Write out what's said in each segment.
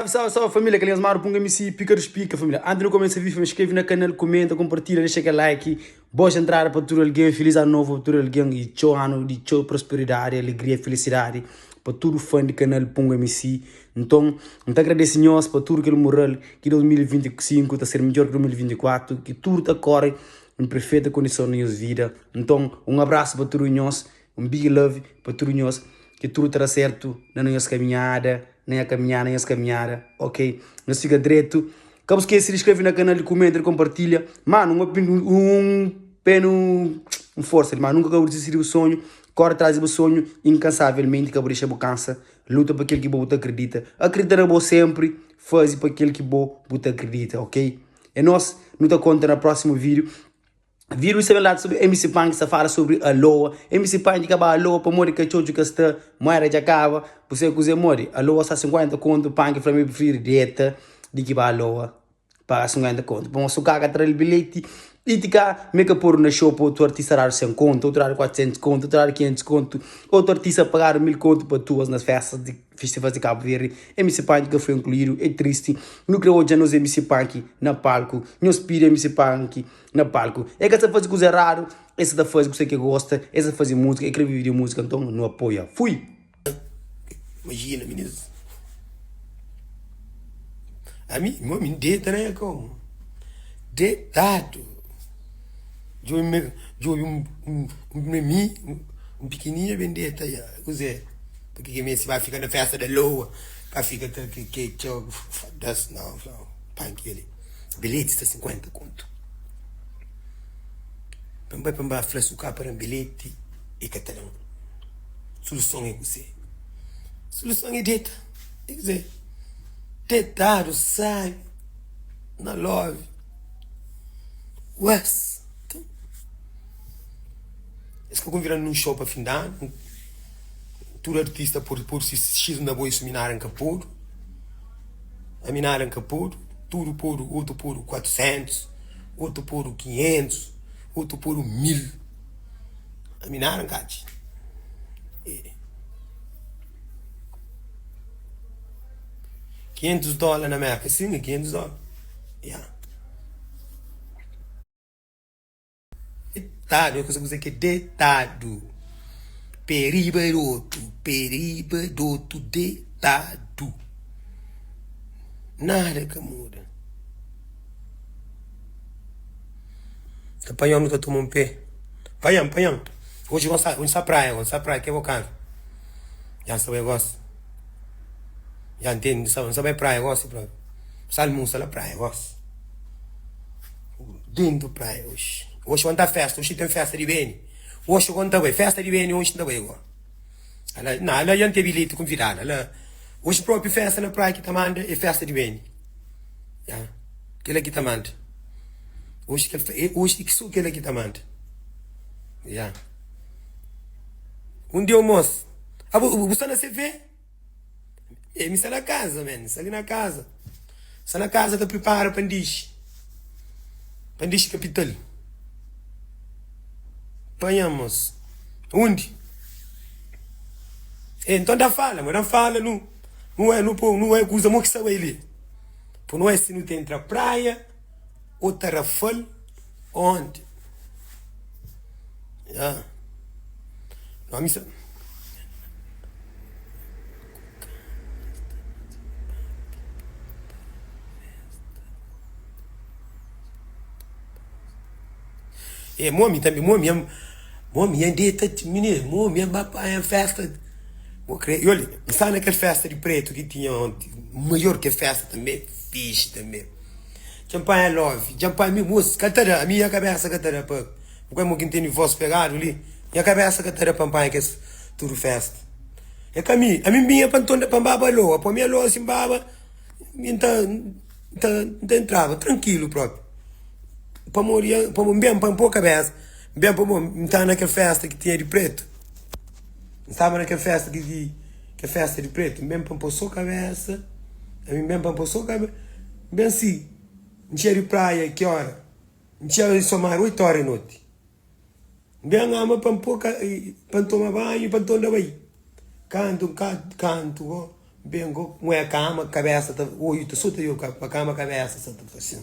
Salve salve salve família Kel nhas madu punga msi pika du spika família Anti nu kumesa vive skreve na kanal Kumenta konpartilha dexa kel like Boas entrada pa tudu algen Feliz anu novu pa tudu algen E txeu anu di txeu prosperidadi Alegria e felisidadi Pa tudu fan di kanal punga msi Nton N ta agradese nhos pa tudu kel mural Ki 2025 ta ser midjor ki 2024 Ki tudu ta kore en prefeita kondison na nhos vida Nton un abrasu pa tudu nhos Un big love pa tudu nhos ki tudu ta da sertu na nhos kaminhada na nha kaminhada na nhos kaminhada ok nhos fika dretu ka bu skese di skreve na kanal di kumenta di konpartilha mano un opin un penu un forsa di mano nunka ka bu disisti di bu sonhu kore atras di bu sonhu inkansavelmenti ka bu dexa bu kansa luta pa kel ki bo bu ta kridita akridita na bo sempri fazi pa kel ki bo bu ta kridita ok e nos nu ta konta na prosimu video. Vira ui sabe lata sobri MC Punk sa fala sobri Aloa MC Punk ka ba Aloa pamodi ka txotxu ka sta Moeda dja kaba bu sai kuze modi Aloa sa 50 kontu Punk fla ma el prifiri dieta di ki ba Aloa Paga 50 kontu Bon su kaka tra-l bilheti i ti ka mi ka podu na xou pa otu artista dadu 100 kontu otu dadu 400 kontu otu dadu 500 kontu otu artista pagadu 1000 kontu pa tuas na festas di festivals di Kabu Verdi MC Punk ka foi inkluidu e tristi nu kre odja nos MC Punk na palku nhos pidi MC Punk Na palku e ka sa fazi kuza eradu e sa ta fazi ku se ke gosta e sa fazi musika e kre vivi di musika nton nu apoia fui. Imajina mi nes ami mo mi deta na koma detadu djobi me djobi un un memi un pikininha ben deta ya kuzé paki ki mesi ba fika na festa da loa pa fika ta ke ke txeu foda-s nau nau pa kile. Bilheti sta sinkuénta kontu. Pa N bai pa N ba fla-s, u ka pa da-m bilheti, e ka ta da-m. Suluson é kuzê? Suluson é deta. É kuzê? Detadu, sábi, na love. Ués! Nton, es ka konvida-m nun xou pa fin di anu. Tudu artista pode pôr se X na bo i suminária N ka pode. Ami nada nka podu Tudu podu Otu podu kuatrusentuz Otu podu kinhentuz Otu podu mil Ami nada nka atxi Êêê Kinhentuz dola na Merka Sin, é kinhentuz dola Ya. Detadu, é kuza ku se ke detadu. Pe riba di otu, pe riba di otu, detadu. Nada ka muda. Ta panha omi ta toma un pe. Panha-m, panha-m. Oji gosi ta, oji n sa praia gosi, n sa praia, ke bo kansa. Dja n sa bai gosi. Dja n tende, n sa bai praia gosi. N sa almusa la praia gosi. Lindu praia oxi. Oxi gon ta festa, oxi ten festa di BN. Oxi gon ta bai, festa di BN oxi nta bai go. Ala, na ala ya ntebi li ti konvidal, ala oxi propi festa na praia ki ta manda e festa di BN. Ya, kila ki ta manda. Oxi kel, e oxi ki so kila ki ta manda. Ya. Un dia un mos, abo, bu sta na CV? Ei, mi sta na kaza, man, mi sta li na kaza. Sta na kaza ta pripara pa N dixi, pa N dixi kapital. Panha-mos undi? Ei, nton da fala, ma da N fala, nu nu oi, nu po, nu oi kuza, mo ki sta bai li. Po nu oi si nu ta intra praia. o ta rafal onde ah. E mo mi tanbe mo mi ya mo mi ya deta timi ne mo mi ya ba panha festa bo kre i ol mi sta na kel festa di pretu ki tinha onti maior ke festa tanbe fixi tanbe Dja N panha love, dja N panha mi Moço, ka ta da, ami nha kabésa ka ta da pa Bu ka é mo ki N tene vós pegadu li Nha kabésa ka ta da pa N panha kes tudu fésta É ka mi, ami N binha pa N tonda pa N baba alô Apo mi alô si N baba mi N ta, N ta, N ta entraba trankilu própi Pamodi, pamodi N ben pa N pô kabésa N ben pamodi N ta na kel fésta ki tinha di pretu. N staba na kel festa di di Kel festa di pretu N ben pa N pô so kabésa Ami N ben pa N pô so kabésa N ben si N txia di praia ki óra N txia di so mar oitu óra di noti N ben ama pa N pô ka pa N toma banhu pa N tonda bai Kantu N ka kantu go N ben go N oi a kama kabésa ta oitu so ta ioka pa kama kabésa sa ta faxina.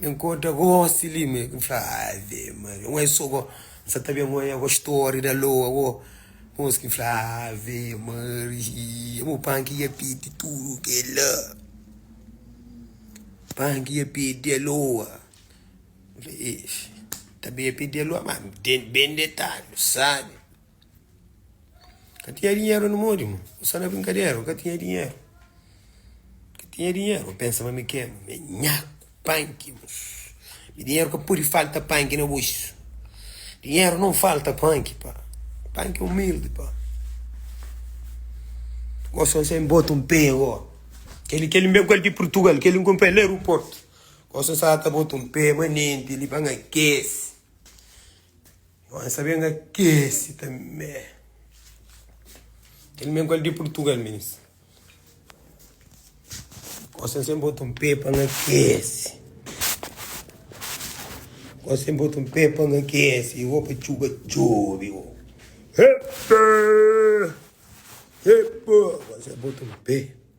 N inkontra gosi li ma N fla Ave Maria N oi so go N sa ta ben N oi ago Stori da lo ago Mos ki N fla Ave Maria Mo pan ki ia pidi tudu kela Pan ki ia pidi aloa N fla Eish Ta ben ia pidi aloa Má N ten ben detadu Sabe Ka tinha dinheru na modi mo N sta na brinkadera Ka tinha dinheru Ka tinha dinheru N pensa ma mi ke me nhaku panki mos Mi dinheru ka pudi falta panki na buxu Dinheru nau falta panki pa Panki é umildi pa Gosi N sai N bota un pé go Keli keli N ben ku el di purtugal Keli N kunpra el na aeroportu Gosi N sa ta bota un pé manenti li pa N akesi. Bom é saber nga kesi tanbê. Kel men kal di Portugal menis. Gosta sem bota um pé para nga kesi. Gosta sem bota um pé para nga kesi. Eu vou para chuva chove. Epa! Epa! Gosta sem bota um pé.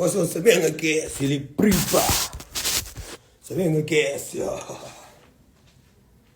Kos son sa ben akese li pripa Sa ben akese.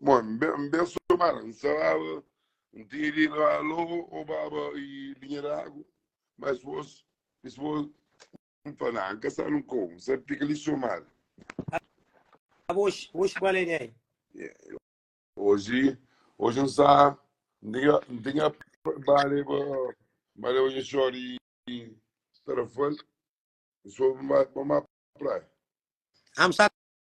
Bon, n ben, n ben somara, n saraba, n tinha di na alô, obaba i linha d'agu, ma es vos, es vos, n fla, na, n ka sa nun kou, n sa fika li somara. Aba oxi, oxi bale di ai. Oji, oji n sa, n tinha, n tinha bale ba, bale ba nha xor i i Tarrafal, n sobi ba, ba ma praia. Am sa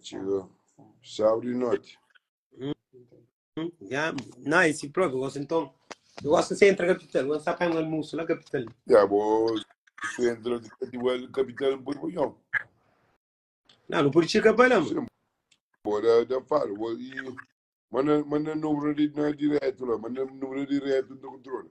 Txiga sábadu di noti. Ya, na é si próprio, gosto então. Eu gosto de centro capital, gosto de pagar almoço lá capital. Ya bo sentru di katiwal kapital n pudi punhon. Não, não pode chegar para lá, mano. Sim. Bo da da fala. Bo i manda manda número di na direto lá, manda número direto do controle.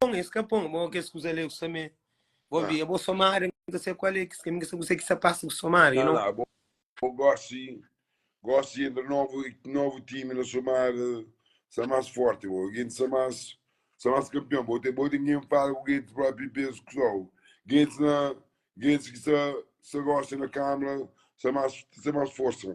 pon, es ka pon. Bo kes kuza le ku sa me. Bo Ah. via, bo somada, mi ka sa kual é kes kaminhu, ka sa kusé ki sa pasa ku somada, you know. Ah, bo, bo gosi, gosi entra novu, novu timi na somada, sa mas forti bo, genti sa mas, sa mas kampion. Bo te, bo te ken fala ku genti propi pezu ku sou. Gentis na, gentis ki sa, sa gosi na kamra, sa mas, sa mas forsa.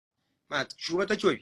Má, txuba ta txobe.